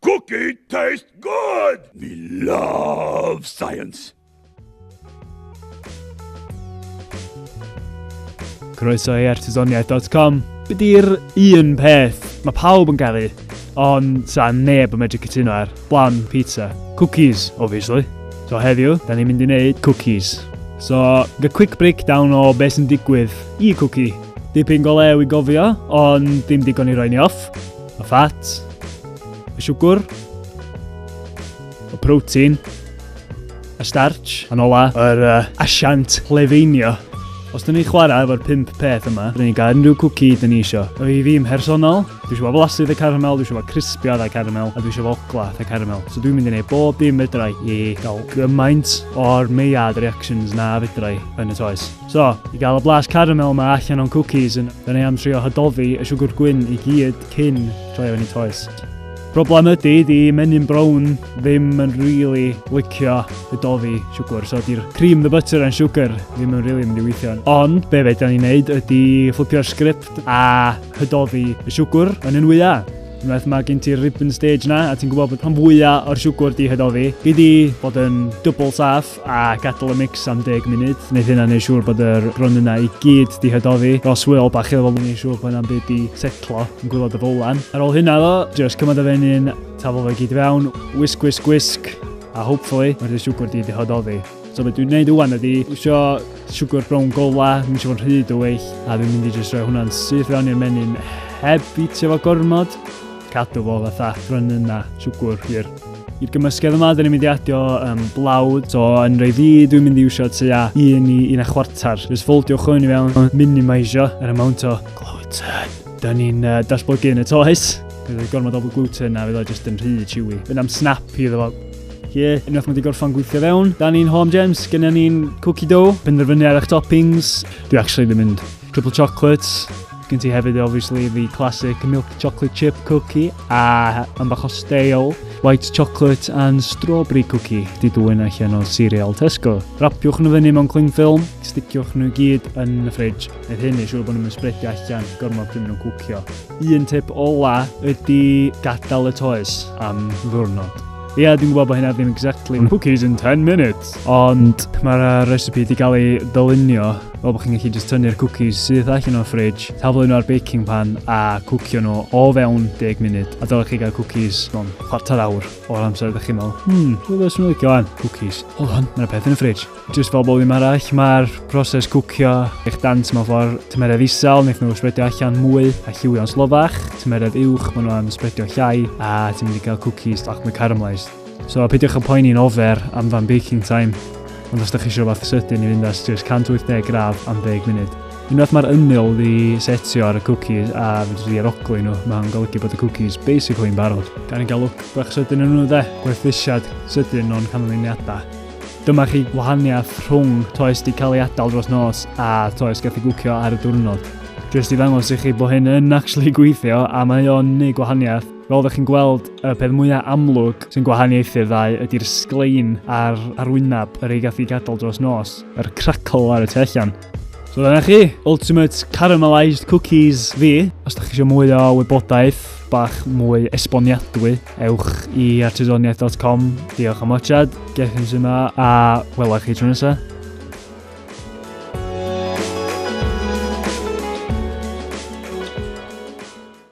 Cookie taste good! We love science! Croeso i artisoniaeth.com. Be di'r un peth mae pawb yn gael ei, ond sa neb yn medru cytuno ar? Blan, pizza, cookies, obviously. So heddiw, da ni'n mynd i wneud cookies. So, the quick breakdown o beth sy'n digwydd i cookie. Dipyn go lew i gofio, ond dim digon i roi ni off. Y ffat. Y siwgr. Y protein. Y starch. Yn ola, yr uh, asiant lefeinio. Os dyn ni'n chwarae efo'r pimp peth yma, rydyn ni'n cael unrhyw cwci dyn ni isio. O i fi yn mhersonol, dwi eisiau fo flasydd y caramel, dwi eisiau fo crispio y caramel, a dwi eisiau fo ogla y caramel. So dwi'n mynd i wneud bob dim fedrai i gael gymaint o'r meiad reactions na fedrai yn y toes. So, i gael y blas caramel yma allan o'n cwcis, yn yn ei am trio hydofi y siwgr gwyn i gyd cyn troi o yn ei toes. Problem ydy, di menyn brown ddim yn really licio y dofi siwgr, so di'r cream, the butter and sugar ddim yn really mynd i weithio. Ond be fe da ni'n neud ydy fflipio'r sgript a hydofi y siwgr yn un wyau. Unwaith mae gen ti'r ribbon stage na, a ti'n gwybod bod pan fwyaf o'r siwgr di hydofi, gei di bod yn dwbl saff, a gadal y mix am 10 munud. Wneud hynna neu siŵr bod yr brwn yna i gyd di hydofi. Ros wyl bach iddo fo mwyn i siŵr bod yna'n byd di setlo yn gwylod y fowlan. Ar ôl hynna ddo, just cymryd y feny'n tafel fe gyd fewn, wisg wisg wisg, a hopefully mae'r dy siwgwr di di hydofi. So beth dwi'n neud wwan ydi, wisio siwgwr brown gola, dwi'n siŵr rhyd o weill, a dwi'n mynd i just rhoi hwnna'n syth fewn i'r menyn heb i ti efo gormod. Cadw fo fatha brwn yna siwgwr hir. I'r gymysgedd yma, dyn ni'n mynd i adio um, blawd. So, yn rei fi, dwi'n mynd i iwsio tua un i un a chwarter. Just foldiwch hwn i fewn, minimisio yr amount o gluten. Dyn ni'n uh, datblygu yn y toes. Bydd y gormod o gluten a fydd o jyst yn rhy chewy. Fydd am snap i ddefo. Ie, unwaith mae wedi gorffan gweithio fewn. Da ni'n home gems, gyda ni'n cookie dough. Penderfynu ar eich toppings. Dwi actually ddim mynd triple chocolates. Gen ti hefyd obviously the classic milk chocolate chip cookie a yn bach o steil, white chocolate and strawberry cookie di dwy'n allan o cereal Tesco. Rapiwch nhw fyny mewn cling film, sticiwch nhw gyd yn y ffridge. Nid hyn i siŵr bod nhw'n spredio allan gormod pryd nhw'n cwcio. Un tip ola ydy gadael y toes am ddwrnod. Ia, dwi'n gwybod bod hynna ddim exactly cookies in 10 minutes. Ond mae'r uh, recipe wedi cael ei ddylunio fel bod chi'n gallu just tynnu'r cwcis syth allan o'r ffridge, taflu nhw ar baking pan a cwcio nhw o fewn 10 munud. A dylech chi gael cwcis mewn chwarter awr o'r amser ydych chi'n meddwl, hmm, rwy'n beth sy'n licio fan, cwcis. Hold on, mae'n peth yn y ffridge. Just fel bod ddim arall, mae'r proses cwcio eich dant mewn ffordd tymeredd isel, wnaeth nhw spredio allan mwy a lliwio'n slofach, tymeredd uwch, maen nhw'n spredio llai, a ti'n mynd i gael cwcis lach mwy caramelised. So a peidiwch â poeni'n ofer am fan baking time, ond os ydych chi eisiau rhywbeth sydyn i fynd ar just 180 gradd am 10 munud. Unwaith mae'r ymyl ddi setio ar y cookies a fyddi di aroglu nhw, mae'n golygu bod y cookies basically yn barod. Gan i gael look bach sydyn yn nhw dde, gwerthusiad sydyn o'n canlyniadau. Dyma chi gwahaniaeth rhwng toes di cael ei adael dros nos a toes gath i gwcio ar y diwrnod. Just i ddangos i chi bod hyn yn actually gweithio a mae o'n neud gwahaniaeth Fel ydych chi'n gweld, y peth mwyaf amlwg sy'n gwahaniaethu'r ddau ydy'r sglein a'r arwyneb yr ei gath i gadael dros nos. Yr crackle ar y tu allan. So dyna chi, Ultimate Caramelised Cookies fi. Os ydych chi eisiau mwy o wybodaeth, bach mwy esboniadwy, ewch i artisoniaeth.com. Diolch am watchad, gech yn sy'n yma, a wela chi tro nesaf.